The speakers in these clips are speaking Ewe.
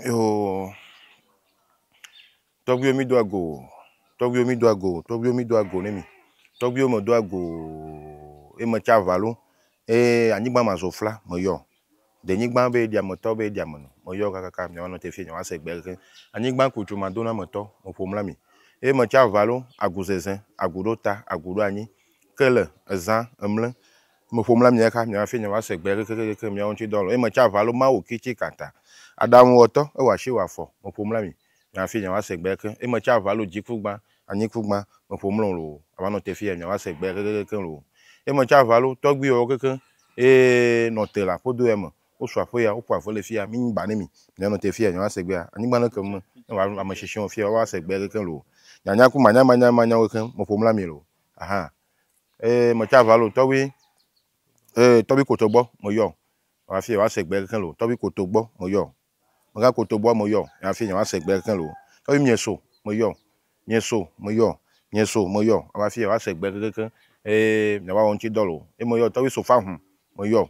Yoo. Tɔgbuiwo mi do ago. Tɔgbuiwo mi do ago. Tɔgbuiwo mi do ago ne mi. Tɔgbuiwo me do ago. E me tsa valo. E anyigba ma zo fla me yɔ. De nyigba be ɖia me tɔ be ɖia me no. Me yɔ kakaka mi ɔnɔ te fi mi wa se gbe ke. Anyigba ku tso ma do na me tɔ me ƒo mla mi. E me tsa valo agu zeze agu ɖo ta agu ɖo anyi. Ke le eza emle Me ƒom la mia xa mia fi nye va se gbe kekekeke mia ŋuti dɔ lo. Eme tsa valo mawu kitsi kata. Adamu wɔ tɔ, ewa tsi wa fɔ. Me ƒom la mi mia fi nye va se gbe ke. Eme tsa valo dzi ku gba, anyi ku gba. Me ƒom lo lo. Ava nɔ te fi ya mia va se gbe kekekeke lo. Eme tsa valo tɔgbi wɔ keke ee nɔ te la ƒo do ya me. Wo su aƒe ya, wo ƒo aƒe le fi ya. Mi nyi ba ne mi. Mia nɔ te fi ya mia va se gbe. Anyigba le ke me. Ne va ame shishi wɔ fi ya va se gbe keke lo. Nyanya ku manya manya manya wɔ keke. Me ƒom la mi lo. Ahan. Ee, me tsa va lo tɔgbi. Ee, tɔgbi koto gbɔ me yɔ. Wa afi wa se gbe keke lo. Tɔgbi koto gbɔ me yɔ. Me ga koto gbɔ me yɔ. Ya afi ya wa se gbe keke lo. Tɔgbi mie so me yɔ. Mie so me yɔ. Mie so me yɔ. Wa afi ya wa se gbe keke. Ee, mia wa wo ŋtsi dɔ lo. E me yɔ tɔgbi so fa hun me yɔ.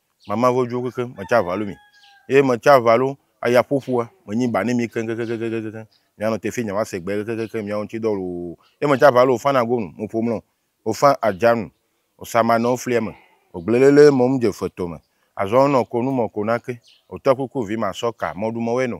Mama vo djo kekeŋ, me tsa valu mi. Eye me tsa valu aya ƒoƒua, me nyi ba ne mi keŋ kekeŋ kekeŋ kekeŋ kekeŋ. Mi anɔ teƒee nya va se gbee kekeŋ kekeŋ miawo ŋtsi dɔ loo. Eye me tsa valu ofan ago nu, mo ƒo mlɔ, ofan adja nu, osa ma nɔ oflia me, ogble lele mɔ ŋdje fetɔ me. Azɔ ŋnɔ ko nu mɔ ko nake, ote kuku vi ma sɔ ka mɔ ɖu mɔ wɛ nɔ,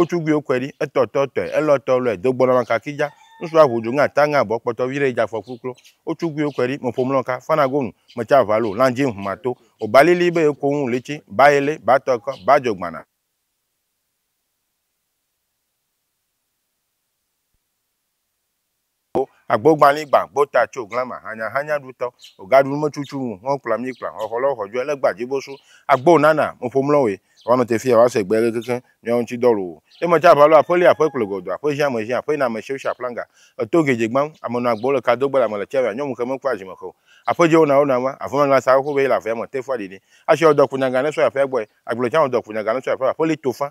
Otsugui okɔe ɖi, etɔ tɔ tɔe, elɔ tɔ lɔe, do gbɔnɔ ma kaki dja, ŋsu aʋu djo ŋe ata ŋe abɔ kpɔtɔ viɖe yi dja fɔ kluklo. Otsugui okɔe ɖi, meƒo mlɔ ka, fana go nu, metsa ʋa lo, lan dji ŋhma to, oba lili be ye koŋu litsi, ba yele, ba tɔ kɔ, ba djo gbana. Wo agbo gbali gba gbota tso glama hanya hanya ɖutɔ. O ga ɖu nume cucu ŋu hɔn kpla mi kpla hɔn xɔ lɔ xɔ jɔ ele gba jibo su. Agbo nana mo ƒo mlɔ we. Wa nɔ te fi ya wa se gbe keke miawo ŋci dɔ lo wo. Ema ca va lo aƒe li aƒe kple gɔdo aƒe ʒin ame ʒin aƒe na ame siwo si aflanga. Eto geje gban ame nɔ agbo le ka do gbe le ame le tia me anyɔ muxe me kpla ʒin me xe o. Aƒe je wo na wo na ma avu mangla sa wo xo be yi le avea me te fua ɖiɖi. Ashi ɔ dɔ kpo nyaga ne sɔ yi aƒea gbɔe. Agble can ɔ dɔ kpo nyaga ne sɔ yi aƒea aƒe li to fã.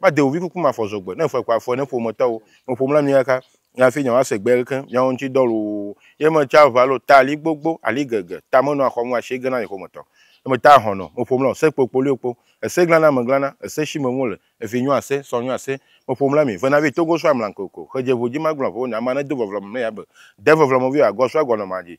Made wò vi kuku mafɔ zɔ gbe, ne fɔe ko afɔe ne ƒometɔwo me ƒom la mieka nye hafi nye woase gbe leke miawo ŋuti dɔ loo ye me tsa ʋa lo ta ali gbogbo ali gege ta me nɔa xɔmu asie gena nye ƒometɔ ye me ta ahɔn nɔ me ƒom la o se kpokpo lio kpo ese glana me glana ese shi me ŋwole evi nyo ase sɔ nyo ase me ƒom la mi vena vi togo so amlan koko xe dje vo dji ma gblɔ vo ne ama ne do vɔvlɔ me me ya be de vɔvlɔ me vi o agɔ so agɔ nɔ ma dji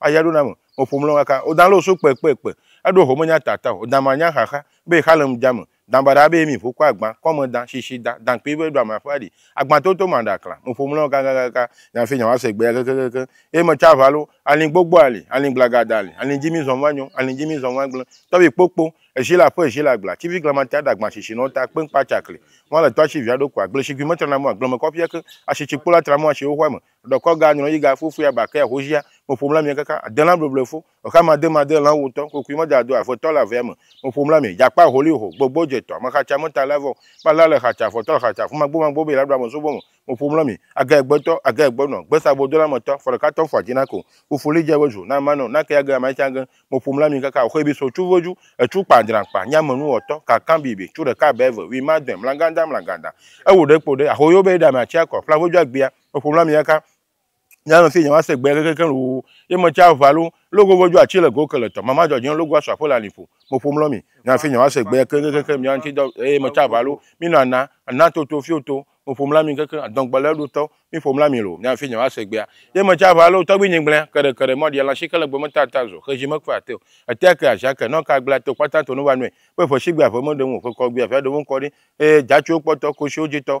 Aya ɖo na me, me ƒo mlɔ kaka, o dan lɔ so kpe kpe kpe, eɖo ho me nya ta ta o dan ma nya xaxa, be exa le ŋdja me, dan baɖa be emi ƒo kɔ agban, kɔ me dan, shishi dan, dan kpe be ɖo ame aƒe aɖi, agban toto ma ɖa kla, me ƒo mlɔ kaka kaka, nya fe nya wa se gbe ya keke keke, eye me tsa ʋa lo, alin gbogbo ali, alin gblaga da ali, alin dji mi zɔn va nyɔn, alin dji mi zɔn va gble, tɔ be kpo kpo, eshi le aƒe eshi le agble, atsi vi glama ta ɖa agban shishi nɔ ta kpe ŋkpa tsa kli, ŋwa le tɔ atsi via ɖo kua, gble shigui me tra na mo agble me kɔ ƒia ke, ashi tsi kpo la tra mo ashiwo xɔa me, Ɖekɔ ga nyrɔ yi ga fo fia ba kea hoshia, me ƒom la mi kaka, ade la bleble fo, exa ma de ma de la wotɔ, kokui me da do a fetɔ la vea me, me ƒom la mi, jakpa holi ho, gbogbo je tɔ, me xatsa me ta la vɔ, kpa la le xatsa, fɔtɔ le xatsa, fuma gbo ma gbo be la ɖo ame so bo me, me ƒom la mi, aga egbe tɔ, aga egbe nɔ, gbe sa bo do la me tɔ, fɔ ɖeka tɔ fua ji na ko, fufu li je be zu, na ma nɔ, na ke ya ge ama tsa ge, me ƒom la mi kaka oxe bi so cu ve ju, ecu kpa dran kpa, nya me nu wɔ tɔ, ka kan bi be, cu ɖeka be ve, wi ma dɔe, mlaganda mlaganda, ewo ɖe kpo ɖe, ahoyo be ɖa me atsia kɔ, ƒla ve ju agbia. Eƒom la mi aka. Nya nɔ si nyawa se gbɛ kekekeŋ loo. Ye me tsa ʋa lo. Logo vɔ jo atsi le go ke le tɔ. Mama jɔ dzi logo asu aƒe le ali ƒo. Me ƒom lɔ mi. Nya si nyawa se gbɛ kekekekeŋ mia ŋti dɔ eye me tsa ʋa lo. Mi nɔ ana. Ana to to fio to. Me ƒom la mi kekeŋ adɔn gbe le eɖo tɔ. Mi ƒom la mi lo. Nya si nyawa se gbɛa. Ye me tsa ʋa lo. Tɔgbi nyi gblɛ. Keɖe keɖe mɔ ɖia lãshi ke le gbe me ta ta zɔ. Xeji me kpe ate o. Etea ke aʒa ke. Nɔ ka gblea to kpata to no va nɔɛ. Be ƒe shi gbe ave me ɖe ŋu o. Ƒe kɔ gbe ave ɖe ŋu kɔ ɖi. Eye dza tso kpɔtɔ. Koshiwo dzi tɔ.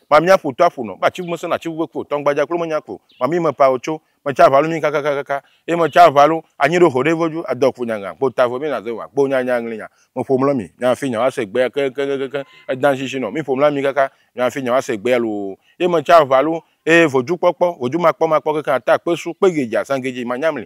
Mamia ƒo to aƒo nɔ, be atsiʋu mesẽ nɔ atsiʋu ƒe ku o, tɔngbadza kplo menya kpo. Mamii me pao tso, metsa aʋalu mii kakakakaka, eye metsa aʋalu anyi ɖo xoɖe voju, adɔ kpo nyagã, kpo tavo mii naze ŋa, kpo nya nya ŋlinya. Meƒo mlɔ mii, nya hafi nya woase gbea kekekekekeŋ, edan shishi nɔ mii ƒo mlɔ mii kaka nya hafi nya woase gbea loo. Eye metsa aʋalu, eye vojukpɔkpɔ, vojumakpɔmakpɔ kekeŋ ata kpe su, kpe gedzi, azã gedzi, manya mli,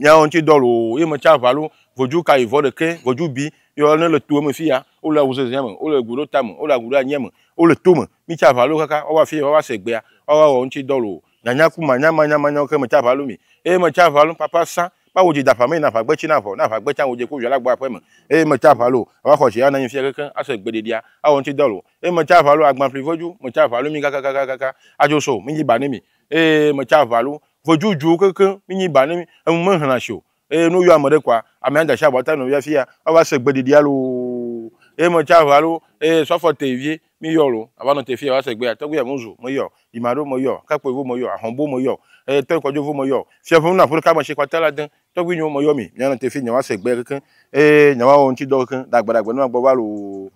Miawo ŋuti dɔ loo, ye me tsa ʋalo, vodzu ka yi vɔ ɖekɛ, vodzu bi, yɔ ne le toeme fiya, wo le awu zezea me, wo le gu ɖo tame, wo le agu ɖo anyia me, wo le tome, mi tsa ʋalo kaka woava fiye woava se egbea, woava wɔ ŋuti dɔ loo, nyanya ku manya manya manyawo ke me tsa ʋalo mi, eye me tsa ʋalo papa sã, ma wo dzi da ƒame yi na ʋagbe tsi na ʋɔ, na ʋagbe tsa wo dze ku via la gbɔ aƒeme, eye me tsa ʋalo ava xɔ tsiya na nyi fiya kekeŋ ase egbe ɖeɖia, awɔ ŋuti dɔ loo, eye me tsa ʋalo agbanfli vodzu, me tsa ʋalo mi kakakakakaka, adzo so, mi dzi ba ne mi. Eye me tsa ʋalu vodzudzuu kekeŋ minyi ba ne mi, enu me hlã shi o. Eye ne woyɔ ame ɖe kɔa, amea da shi abɔ ta nɔvia fia woava se gbe ɖiɖia loo. Eye me tsa ʋalu eye sɔfɔ te vie mi yɔ lo ava nɔ te fia woava se gbea tɔgbe ya ŋu zu me yɔ, yima ɖo me yɔ, kakpoe vo me yɔ, ahɔn bo me yɔ, eye tɔe kɔdzo vo me yɔ, fia ƒe nu naƒu ɖeka me shi kɔte la de. Tɔgbe nyo me yɔ mi mia nɔ te fia nyawa se gbea kekeŋ eye nyawa wɔ ŋuti dɔ kekeŋ ɖagbe ɖagbe ne magba va loo.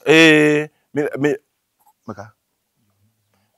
Eye mi, mi, meka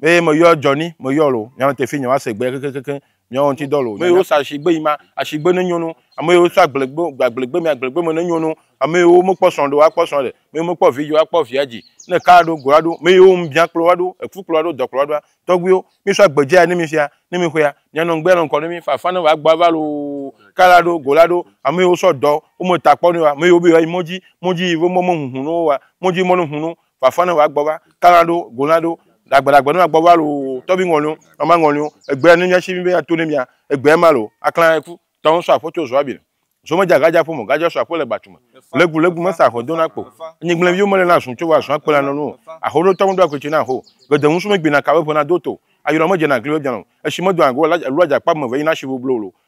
eye meyɔ jɔni meyɔ lo nyame tefi nyawa se gbe kekekekeŋ nyawo ŋti dɔ lo meyo sa shigbe yi ma ashigbe ne nyonu ameyo sa gblegbe gblegbe mi agblegbe me ne nyonu ameyo me kpɔ sɔn do akpɔ sɔn de meyo me kpɔ vi jo akpɔ via ji ne ka do go ado meyo ŋu bia kplo ado efu kplo ado dɔ kplo ado tɔgbiwo mi so agbe jia ne mi fia ne mi xoya mi anɔ ŋgbe anɔ ŋkɔ ne mi fafa ne va gba va lo ka la do go la do ameyo so dɔ wo me ta kpɔ ne wa meyo be yo ayi mɔdzi mɔdzi yi ve mɔ me ŋuŋu no wa mɔdzi mɔ ne ŋu no fafa ne wa gbɔ va kala ɖo gola ɖo dagbe dagbe ne wa gbɔ va lo tɔbi ŋɔnyo ama ŋɔnyo egbe ne nya si mi be ya to ne mia egbe ma lo akla eku tɔn so aƒe tso zo abi zo me dzaga dza ƒo mo gadza so aƒe le gbatume le gu le gu me sa aƒe dona kpo ni gble viwo mele na zun tso wa zun akpe la nɔnu aho ɖo tɔn do akwe tsi na ho gede ŋusu me gbina ka be ƒe na do to ayɔlɔ me dze na gli be biano esi me do ago la lua dza kpa me ve yi na si bo blo lo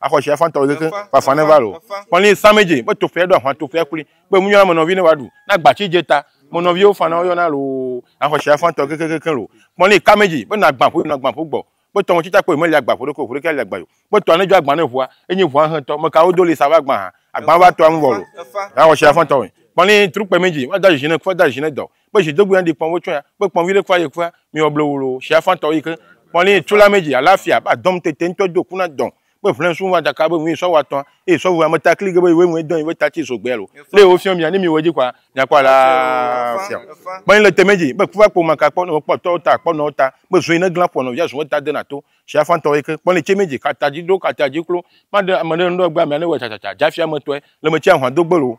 Axɔ shi afã tɔwɔ keke fafã ne va lo. Kpɔnli sa me je, be to fea do ahwa to fea kuli. Be mu nyɔna me nɔvi ne wa du. Na gba ci je ta. Mo nɔvi wo fana wo yɔna lo. Axɔ shi afã tɔ keke keke lo. Kpɔnli ka me je, be na gba ƒo yɔna gba ƒo gbɔ. Be tɔ mo ci ta kpɔ yi me li agba ƒo ɖe ko ƒo ɖe ke ali agba yo. Be tɔa ne jɔ agba ne ʋua, enyi ʋua hẽ tɔ. Me ka wo do li sa va agba ha. Agba va tɔa ŋu vɔ lo. Axɔ shi afã tɔwɔ. Kpɔnli trukpe me je, wa da zizi ne kufa da zizi ne dɔ. Kpe zi do guya di kpɔn votso ya. Kpe kpɔn vi ɖe kua ye kua. Mi wɔ ble wolo shia fan tɔ yi ke. Kpɔn li tula me ji ala fia ba dɔm tete ŋtɔ do kuna dɔn. Kpe vlen sun va daka be ŋui sɔ wa tɔn. E sɔ vua me ta kli ge be iwe ŋue dɔn iwe ta tsi so gbea lo. Le wo fiɔ mi ya ne mi wɔ ji kua mi akpɔ ala fia. Kpɔn le teme ji kpe kuva kpo maka kpɔ ne wo kpɔ tɔ ta kpɔ nɔ ta. Kpe zui ne glan kpɔ nɔ via zun ta de na to. Shia fan tɔ yi ke. Kpɔn li tse me ji kata ji do kata ji klo. Kpɔn de ame ɖe ŋɖɔ gba mi ya ne wɔ tsa tsa tsa ja fia me tɔɛ. Le me tse ahwa do gbe lo.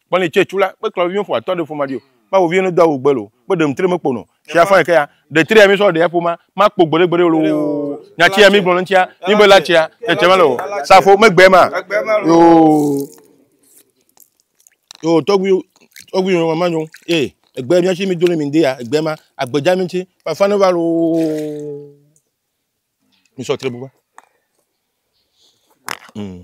Kpɔnɛ tsɛ tsu la, kpe klɔviviwo ƒo atɔ ɖe ƒoma ɖi o, ma voviviwo ne do awu gbe lo, kpe ɖem tre me kpo no. Tsia fã yekea, ɖe tre ya mi sɔ ɖea ƒoma, ma kpo gbeɖe gbeɖe lo o. Nya tsia mi gblɔ le ŋtsia, mi be la tsia, tse tse mele o. Safo me gbe ma. Yo. Yo, tɔgbi, tɔgbi yo ma nyo. E, egbe mi tsi mi do le mi nde ya, egbe ma, agbe dja mi tsi, pa fã ne va lo. Mi sɔ tre bu va. Mm.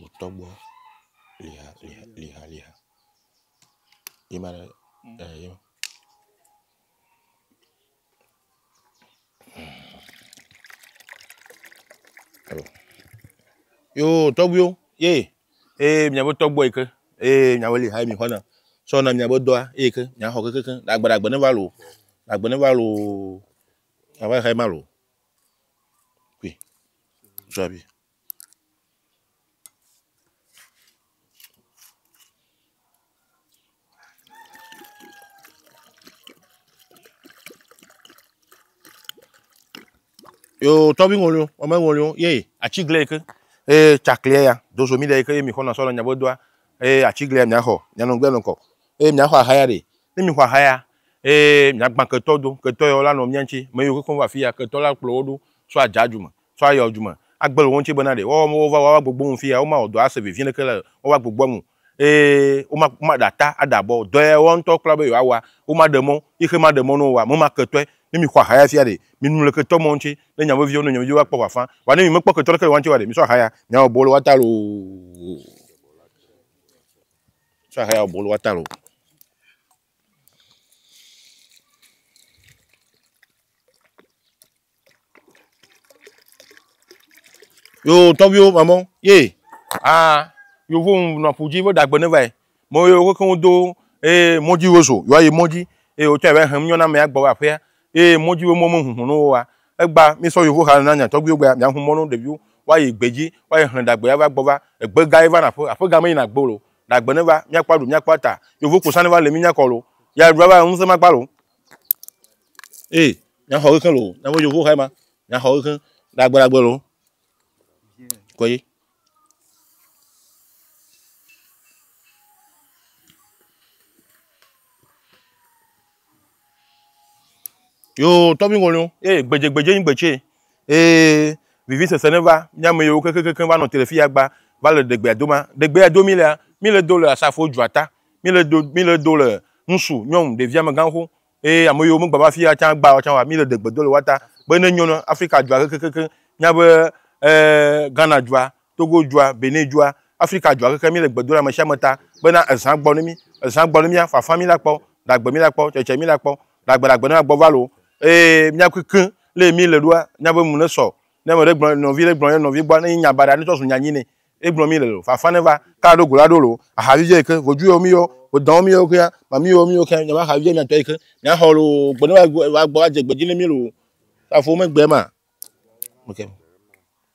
wò tɔ gbɔ liha liha liha liha ye ma ɖe ye ma. Yo tɔgbuiwo ye ee miabe tɔgbɔ yi ke ee miabe liha yi mi xɔna sɔ na miabe dɔa eye ke miaxɔ kekekeŋ agbe agbe ne va lo agbe ne va lo ava xɛ ma lo kui zɔa bi. yo tɔbi ŋolio ɔmɛ ŋolio ye atsiglɛ yi ke eye tsakliɛ ya dozo mi ɖe yi ke ye mi xɔna sɔ le nyabo doa eye atsiglɛ mia xɔ mia nɔ gbɛ nɔ kɔ eye mia xɔ ahaya ɖe ne mi xɔ ahaya eye mia gbã ketɔ do ketɔ yɔ la nɔ mia ŋtsi me yi ke kɔ va fi ya ketɔ la kplɔ wo ɖo so adza dzu me tso ayɔ du me agbe le wo ŋuti bena ɖe woawo wova woawo agbogbo ŋu fiya womawɔ dɔ ase vevie ɖeke le woawo agbogboa ŋu eye woma womaɖe ata ade abɔ o. Dɔ ya woawo ŋutɔwo kpla be yewoawɔa, womaɖe mɔ yi xe maɖe mɔ ne wowɔa memaketɔe. Ne mixɔ aha ya fia ɖe, minu le ketɔ mɔ ŋuti ne nya veviwo ne nya veviwo akpɔ ʋafã. Vɔa ne mi mekpɔ ketɔ ɖeke le woa ŋuti oa ɖe, misɔ aha ya miawɔ bɔ le woa ta loo. Misɔ aha ya wɔ bɔ le woa ta loo. yo tɔviwo mamɔ ye a yovo nɔ ƒu dzi wo dagbe ne vae mɔ ye wo kekeŋ do eye mɔdzi wo zo yɔ yi mɔdzi eye wotɔ yɛ va hem nyɔna mɛ agbɔ va aƒea eye mɔdzi wo mɔ me hunhun no woa egba mi sɔ yovo ha na nya tɔgbiwo gbea mia hu mɔ no ɖeviwo wa yi gbedzi wa yi hlɛ dagbe ya va gbɔ va egbe ga ye va na aƒe aƒe ga me yina gbe o Ɖagbe neva míakpɔ aɖu míakpɔ ata. Yovo kposa neva le mínya kɔlo. Ya ɖu ava ŋusẽ makpa lo. Ee, míaxɔ ɣexe lo. Míaƒe yovo xae ma. Míaxɔ ɣexe. Ɖagbe ɖagbe lo. Kɔye. Yo, tɔvi ŋɔliwo, eye gbedzegbedze nyi gbetsɛ. Eye vivisese ne va, mía ame yiwo kekekekeŋ va nɔ te le fi ya gba va le ɖegbea doma. Ɖegbea do mí lea, mí le do le asafo dzroa ta. Mí le do, mí le do le ŋsu, nyɔnu, ɖevi, amegã xoxo. Eye ame yiwo megba va fi ya tsã gba tsã oa, mí le ɖegbe do le woa ta be ne enyo na Afrika dua kekekekeŋ, míabe ɛɛ Ghana dua Togo dua, Benin dua, Afrika dua keke mí le gbe do ɖa mesiame ta bena ezã gbɔ ne mí, ezã gbɔ ne mía, fafa mí la kpɔ, ɖagbe mí la kpɔ, tsɛtsɛ mí la kpɔ, ɖagbe ɖagbe ne mía gbɔ va lo. Eye mía keke le mí le ɖoa, mía be nu ne sɔ. Ne ame ɖe gblɔ, nɔvi ɖe gblɔ ye nɔvi gbɔa, ne nyi nya baɖa ne tsɔ zu nya nyi ne. Ye gblɔ mí le lo. Fafa ne va. Ka ɖo go la ɖo lo. Aha vivi ye ke. Voju yɔ mí yɔ. Vodã yɔ mí yɔ kea. Mami yɔ mí yɔ kea. Nya ma aha vivi mía tɔ ye ke. Mía xɔ lo. Gbe ne va gbɔ va dze gbe dzi ne mí lo. Afɔ me gbe ma. Ok.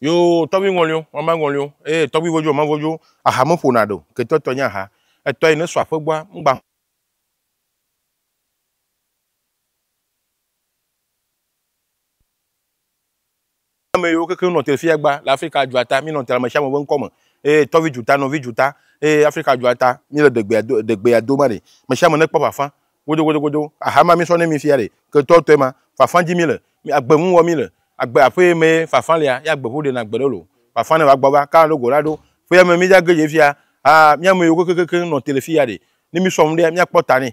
yo tɔgbi ŋɔlio ɔma ŋɔlio eye tɔgbi vodzo ɔma vodzo aha me ƒona ɖo ketɔ tɔ nye aha etɔ yi ne sɔ aƒe gbɔa ŋgba ame yiwo kekeŋ nɔ Telfiagba le Afrika dzuata, míenɔ Tel ame sia ame ƒe ŋkɔ me, eye tɔvi dzuta, nɔvi dzuta, eye Afrika dzuata, míele ɖegbea do, ɖegbea dom aɖe. Ame sia ame nekpɔ ƒafã godogodogodo. Aha ma míesɔ ne mi fia ɖe, ketɔtɔe ma, ƒafã dim míele, agbe ŋu wɔm míele. Agbe aƒee mee ƒafã lea, ye agbe ƒu ɖena agbe ɖe loo. Ƒafã ne va gbɔ va, kaka ɖo go la ɖo. Ƒea me mídage dze fia, aa, mía ame yiwo kekekekeŋ nɔ Telfia ɖe, ne mísɔ nu ɖea, míakpɔ ta nɛ.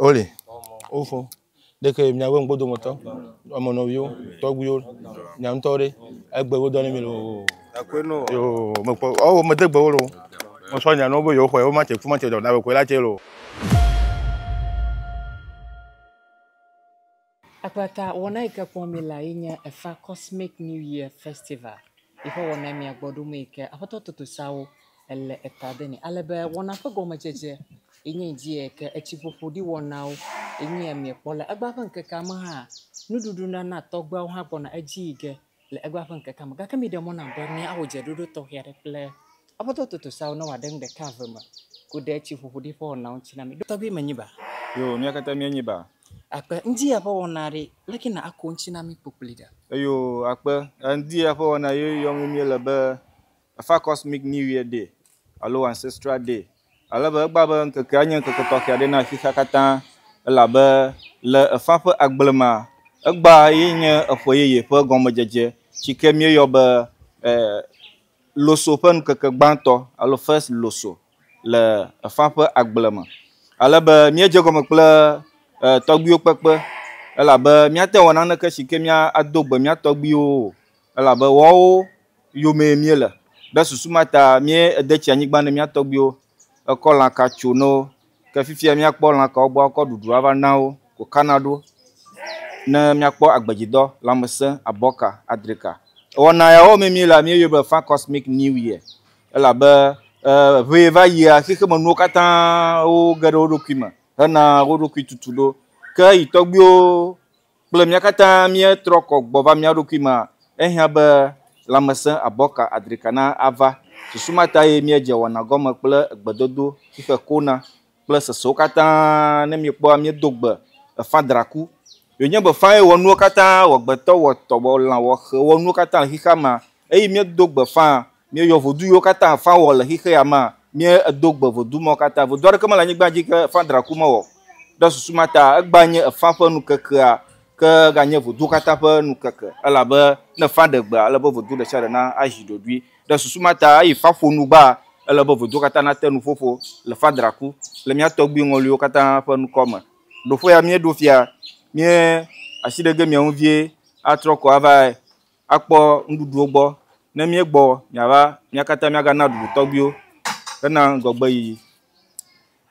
Woli. Wofo. Ɖeke miawo ŋgbo dometɔ. Ame nɔviwo, tɔgbuiwo, mia ŋutɔ ɖe. Egbe wo dɔ ne mi lo. Akwe no. Yo, me kpɔ. Ɔwo me de gbe wo lo. Mo sɔ nya no bo yo xwe, wo ma che ku ma che dɔ na be kwe la che lo. Akpata wɔna yi ke kpɔm míele ye nye efa kɔsmic new year festival yi ƒe wɔna ye mìagbɔ ɖo me yi ke aƒetɔ totosawo ele eta de nɛ ale be wɔna ƒe gɔmedzedze ye nye ŋdi yi ke etsiƒoƒoɖiwɔnawo ye nye ya mìekpɔ le. Egbea ƒe ŋkekea me hã nuɖuɖunana tɔgbeawo hã gbɔna edzi yi ge le egbea ƒe ŋkekea me. Gake miɖe mɔ nam be míawɔ dzeɖoɖo tɔxɛ aɖe kple afɔtoa totoseawo ne wòaɖe nu ɖeka eve me ku ɖe tsi ƒoƒo ɖi ƒe wɔnawo ŋuti na mí. Ɖo tɔgbi menyi ba? Yoo, mía katã míenyi ba. Akpe, ŋdi ya ƒe wɔna aɖee. Leke na ako ŋuti na mí kpokpli ɖe? Eyoo, akpe, ŋdi ya ƒe wɔna ye yɔm míele be Efa Cosmic New Year Day alo Ancestral Day ale be egbea be ŋkekea nye ŋkeke tɔxɛ aɖe na xexea katã elabe le efa ƒe agble mea, egbea ye nye eƒe yeye ƒe gɔmedzedze si ke míeyɔ be e Loso ƒe ŋkeke gbãtɔ alo First Loso le efa ƒe agble me. Ale be míedze egɔme kple e tɔgbuiwo kpekpe elabe míate ŋu awɔ naneke si ke mía ado gbe mía tɔgbuiwo o elabe woawo yomee míele. Ɖe susu ma ta míede tsi anyigba ne mía tɔgbuiwo ekɔ lã ka tso ne wo. Ke fifia míakpɔ lã kawo gbɔ akɔ ɖuɖu ava na wo ko kana ɖo ne míakpɔ agbedzidɔ, lãmesẽ, abɔ ka, adri ka. Wɔna yawo mee míele míeyɔe be Fã Cosmic New Year elabe ŋee va yia xexemenuwo katã woge ɖe wo ɖokui me hena wo ɖokui tutu ɖo. Ke yi tɔgbuiwo. kple mía katã míetrɔ kɔ gbɔ va mía ɖokui mea, ehiã be lãmesẽ abɔka adrika na ava. Susu ma tae míedze wɔna gɔme kple egbedodo xixe kona kple sesewo katã ne míekpɔa míedo gbe efã draku. Yonye be fãe wɔ nuwo katã, wɔgbetɔ wɔ tɔ wɔ lã wɔ xe wɔ nuwo katã le xixea mea, eye míedo gbe fãa, Mie yɔ vodu yiwo kata fa wɔ le xixe ya ma, mie edo gbe vodu mawo kata. Vodu aɖeke mele anyigba dji ke fa draku me wɔ. Ɖe susu ma ta, egba nye efa ƒe nukekea, ke ega nye voduwo kata ƒe nukeke, elabe ne efa ɖe gbea, ele be vodu ɖesiaɖe na azi ɖoɖoe. Ɖe susu ma ta, eyi fa ƒo nu gbaa, ele be voduwo kata na te nuƒoƒo le fa draku le mia tɔgbui ŋɔluiwo kata ƒe nukɔ me. Ɖoƒe ya mie ɖo fia, mie asi ɖe ge mia ŋu vie atrɔ ko ava akpɔ nuɖuɖuwo gbɔ. Ne míegbɔ miava, mía katã míagana ɖuɖu tɔgbuiwo hena ŋgɔgbeyiyi.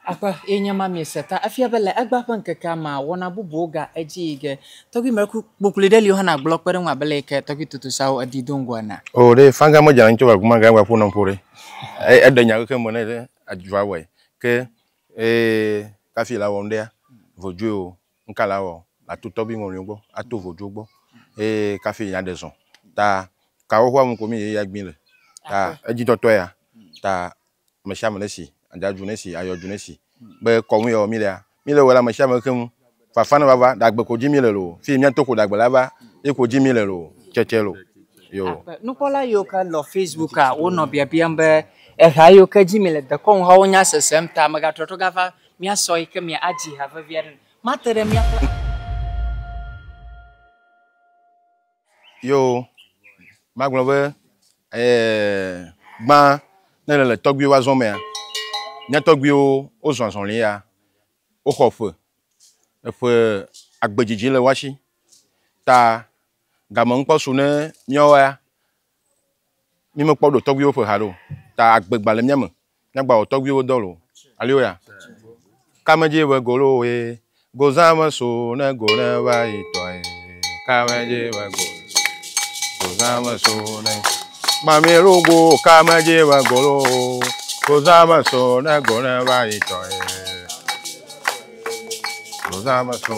Akpe ye nye ma miese ta efia be le egbea ƒe ŋkekea mea, wɔna bubuwo ga edzi yi ge. Tɔgbui mlɔeku kpokploe ɖe li wohana agblɔ kpe ɖe eŋu abe leyike tɔgbui totosawo edi do ŋgɔ enea? Oo, ɖe fanga medzra anyi tso aguma ga ewa ƒonɔ ƒo ɖe. E, eɖe nya aɖeke me ne adzuva wɔe. Ke, ee, kafi la wɔm ɖea, vodzoe o. Ŋka la wɔ ato tɔbi ŋɔliwo gbɔ, ato vodzuwo gbɔ eye kafi ya ɖe zɔ. Ta kawo ƒe amu ko mi ye ya gbin le. Ta edzidɔtɔ ya. Ta mesiame ne si adadzu ne si ayɔdzu ne si be kɔnu ya wɔ mi lea, mi le wɔ le amesiame keŋ. Fafa ne va va ɖagbe ko dzi mi le lo. Fi mia to ko ɖagbe la va ye ko dzi mi le lo. Tsetse lo. Yo. Nukpɔla yiwo ke lɔ Facebook a wonɔ biabiam be eha yiwo ke dzi mi le dekɔnu hawo nya sesem ta megatrɔtrɔ gava Míasɔ eyi ke mía adzi ha vevi aɖe le. Mate ɖe mía kple. Yo, magblɔ be, ɛɛ, gbã ne le le tɔgbuiwo azɔ mea, mía tɔgbuiwo wozɔ azɔli ya, woxɔ ƒe, eƒe agbe dzidzi le woa shi. Ta game ŋkpɔ su ne míawoa. Mi me kpɔ ɖo tɔgbuiwo ƒe ha ɖo. Ta agbe gba le mía me. Mía gba wɔ tɔgbuiwo dɔ lo. Alléluia. Kame dzi be golo ye. Gozã me so ne go ne va yi tɔ ye. Kame dzi be go. Gozã me so ne. Mami logo kame dzi be golo. Gozã me so ne go ne va yi tɔ ye. Gozã me so.